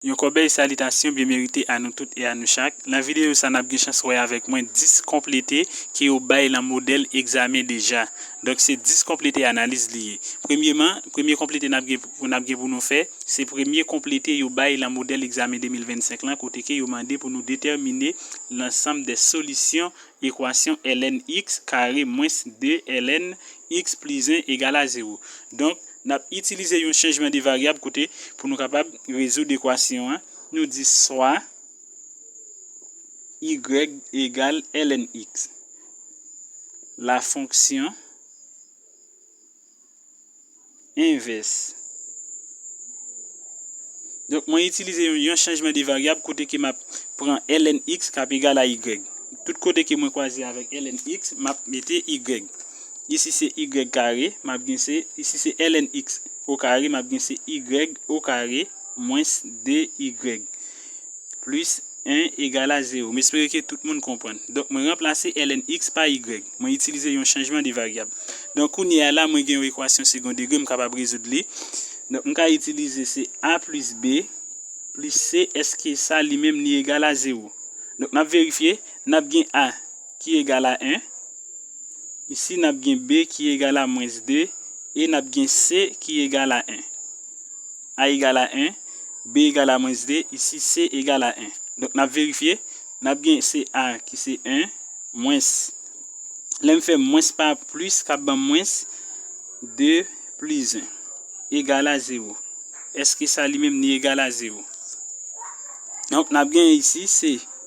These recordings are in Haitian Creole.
Yon kòbèy salitasyon byen merite a nou tout e a nou chak. Nan videyo sa nap gen chans wè avèk mwen 10 konplete ke yo bay lan modèl egzamen deja. Donk se 10 konplete analiz li ye. Premyeman, premye konplete nap gen pou nap gen pou nou fè, se premye konplete yo bay lan modèl egzamen 2025 lan kote ke yo mande pou nou detèmine lansanm de solisyon Ekwasyon ln x kare mwens 2 ln x plis 1 egal a zewo. Donk, n ap itilize yon chanjman de varyab kote pou nou kapab rezoud ekwasyon an, nou di swa y egal ln x. Lafonksyon Envès. Donk mwen itilize yon chanjman de varyab kote ke map pran ln x kap egal a y. Tout kote ke mwen kwaze avèk ln x, map mete y. Isi se y kare, map gen se, isi se ln x o kare, map gen se y o kare mwens 2y. Plis 1 egal a 0. M espere ke tout moun konprann. Donk mwen ranplase ln x pa y. Mwen itilize yon chanjman de varyab. Donk kounye a la mwen gen yon ekwasyon segon degre m kapab rezoud li. Donk m ka itilize se a plis b plis c èske sa li menm li egal a 0. Donk n ap verifye. N ap gen a ki egal a 1. Isi n ap gen b ki egal a mwens 2 e n ap gen c ki egal a 1. A egal a 1, B egal a mwens 2, isi C egal a 1. Donk n ap verifye, n ap gen se A ki se 1, mwens, lè m fè mwens pa plis k ap ban m mwens, 2 plis 1 egal a 0. Èske sa li menm li egal a 0? Donk n ap gen isi se.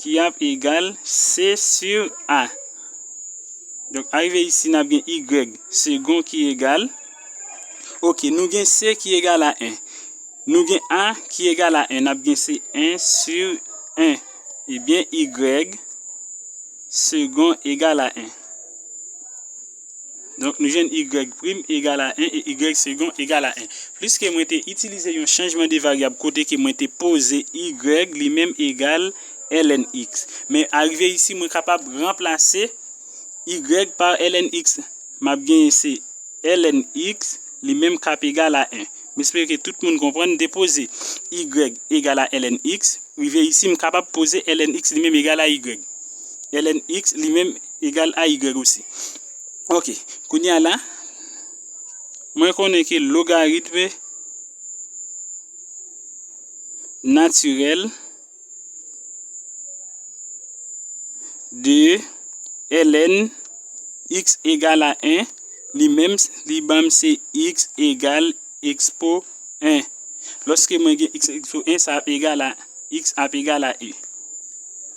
Ki ap egal C sur A. Donk arive isi n ap gen Y segon ki egal. Ok, nou gen C ki egal a 1. Nou gen A ki egal a 1. N ap gen se 1 sur 1. Ebyen Y segon egal a 1. Donk nou jwenn y prim egal a 1 e y segon egal a 1. Pliske mwen te itilize yon chanjman de varyab kote ke mwen te poze y li menm egal ln x. Men arive isi mwen kapab ranplase y pa ln x. M ap genyen se ln x li menm k ap egal a 1. M espere ke tout moun konprann. M te poze y egal a ln x. Rive isi m kapab poze ln x li menm egal a y. ln x li menm egal a y osi. Ok, kounye a la, mwen konnen ke logaritm natirèl de ln x egal a 1, li menm li ban m se x egal ekspo 1. Lòske mwen gen x ekspo 1, sa ap egal a x ap egal a y.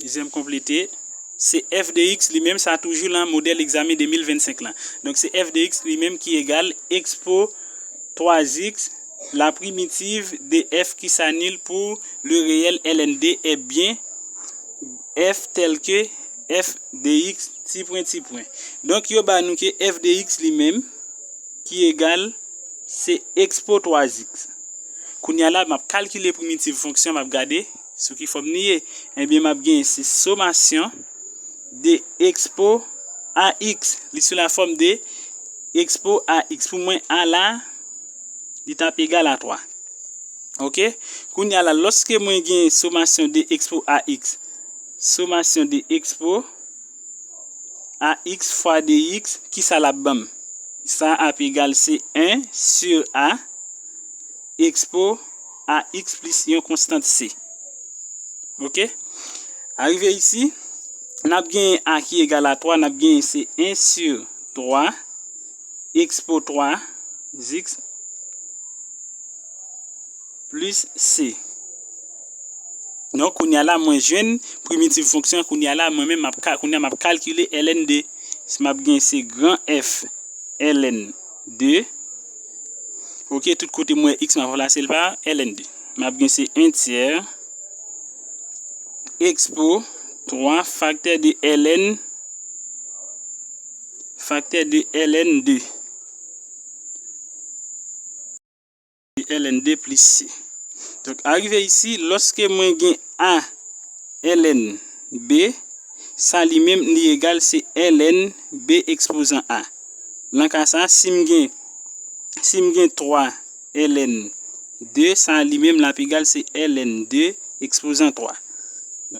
Deuxième complété, Se f de x li menm sa toujou lan modèl egzamen 2025 lan. Donk se f de x li menm ki egal expo 3x la primitiv de f ki sa nil pou le reyèl ln de e byen f tèl ke f de x ti pwen ti pwen. Donk yo ba nou ke f de x li menm. Ki egal, se ekspo twazik. Kounye a la, m ap kalkile primitiv fonksyon, m ap gade sou ki fòm li ye. Ebyen, m ap genyen se somasyon de ekspo a x. Li sou lafòm de ekspo a x. Pou mwen, a la, li t ap egal a 3. Ok? Kounye a la, lòske mwen genyen somasyon de ekspo a x, somasyon de ekspo. ax fwa 2x, ki sa l ap banm? Sa ap egal se 1 sur a expo ax plis yon konstant c. Ok? Arive isi, n ap genyen a ki egal a 3, n ap genyen se 1 sur 3 expo 3 zix. Plus se. Non kounye a la mwen jwenn primitive fonksyon an kounye a la mwen menm m ap ka kounye a m ap kalkile ln de s m ap gen se gran F ln de ok tout kote mwen wè x m ap ranplase l pa ln de m ap gen se 1 tyè ekspo 3 faktè de ln faktè de ln de. ln 2 plis si. Donk arive isi, lòske mwen gen a ln b, sa li menm li egal se ln b ekspozan a. Lan ka sa, si m gen si m gen 3 ln 2, sa li menm l ap egal se ln 2 ekspozan 3.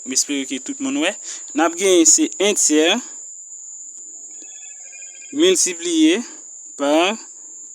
M espere ke tout moun wè. N ap genyen se 1 tyè miltipliye pa.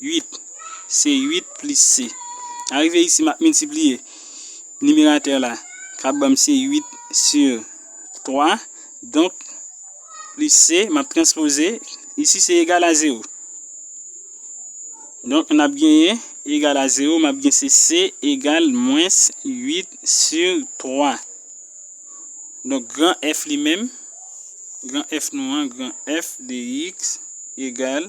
8, Se 8 plis se. Nan rive isi m ap miltipliye. Nimeratè la k ap ban m se 8 si 3. Donk, plis se, m ap transpoze. Isi se egal a 0. Donk, n ap genyen egal a 0. M ap gen se se egal mwens 8 si 3. Donk, gran F li menm, gran F nou an, gran F de x egal.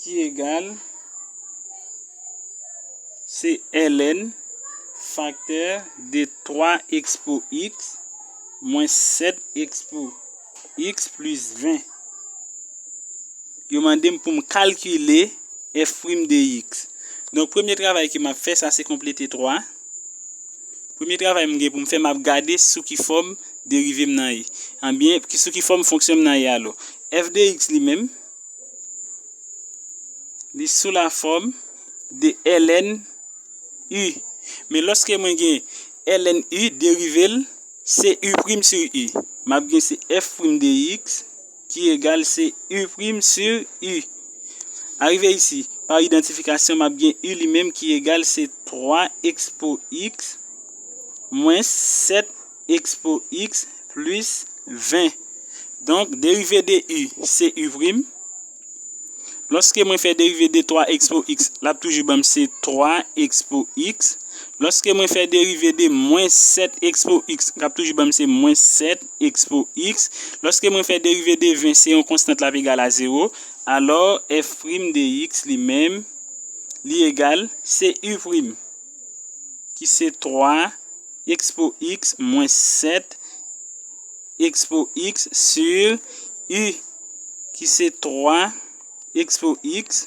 ki egal se ln faktè de 3 expo x mwens 7 expo x plis 20. Yo mande m pou m kalkile f' de x. Donk premye travay ke m ap fè sa se konplete 3. Premye travay m gen pou m fè, m ap gade sou ki fòm derive m nan ye. Anbyen, sou ki fòm fonksyon m nan ye alò. F de x li menm, li sou la fòm de ln u. Men lòske mwen gen ln u, derive l, se u prim sou u. M ap gen se f prim de x. Ki egal se u' sur u'. Arive isi, pa idantifikasyon m ap gen u' li menm ki egal se 3 expo x mwens 7 expo x plis 20. Donk, derive de u' se u'. Lòske mwen fè derive de 3 expo x, l ap toujou ban m se 3 expo x. Lòske mwen fè derive de mwens 7 expo x, l ap toujou ban m se mwens 7. X pou X, lòske mwen fè derive de 20 se yon konstant l ap egal a zewo, alò F prim de X li menm li egal se U prim ki se 3 X pou X mwens 7 X pou X sur U ki se 3 X pou X.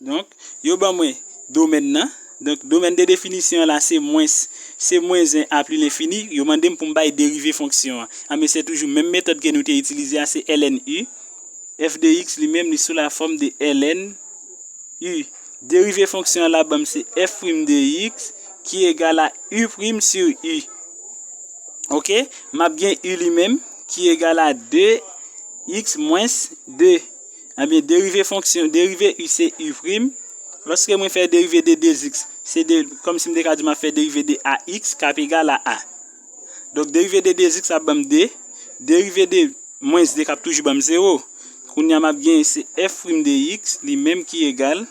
Donk, yo ban mwen domèn nan. Donk, domèn de definisyon an la se mwens. Se mwens 1 a pli lenfini. Yo mande m pou m bay derive fonksyon an. Anben, se toujou menm metòd ke nou te itilize a, se ln u. F de x li menm li sou lafòm de ln u. Derive fonksyon an la ban m se f prim de x ki egal a u prim sur u. Ok? M ap gen u li menm ki egal a 2 x mwens 2. Ebyen derive fonksyon, derive u se u prim, lòske mwen fè derive de 2x, se de, kòm si m te ka di m ap fè derive de ax k ap egal a a. Donk derive de 2x ap ban m 2, derive de mwens 2 k ap toujou ban m 0. Kounye a m ap gen se f prim de x li menm ki egal.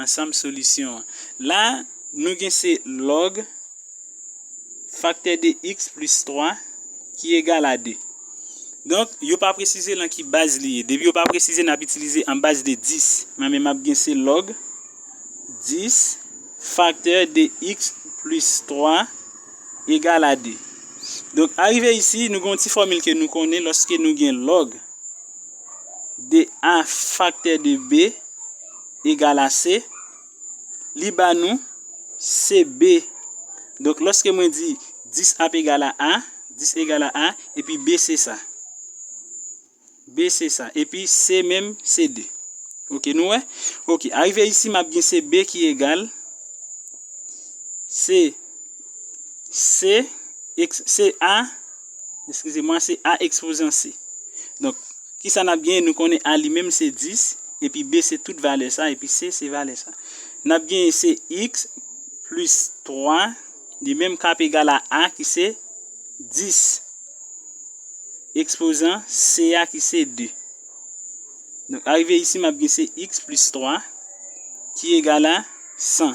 Ansanm solisyon an. La, nou gen se lòg faktè de x plis 3 ki egal a 2. Donk, yo pa presize lan ki baz li ye. Depi yo pa presize, n ap itilize an baz de 10. Mwen menm m ap gen se lòg 10 faktè de x plis 3 egal a 2. Donk, arive isi, nou gen yon ti fòmil ke nou konnen lòske nou gen lòg. de A faktè de B egal a C, li ba nou CB. Donk, lòske mwen di 10 ap egal a A, 10 egal a A, epi B se sa. B se sa. Epi C menm se 2. Ok, nou wè? Ok, arive isi m ap gen CB ki egal se C, se A, Eskize mwa se A ekspouzan se. Donk, ki sa n ap genyen? Nou konnen A li menm se 10, epi B se tout valè sa, epi C se valè sa. N ap genyen se X plis 3, li menm k ap egal a A ki se 10, ekspouzan C a ki se 2. Donk, arive isi m ap gen se X plis 3 ki egal a 100.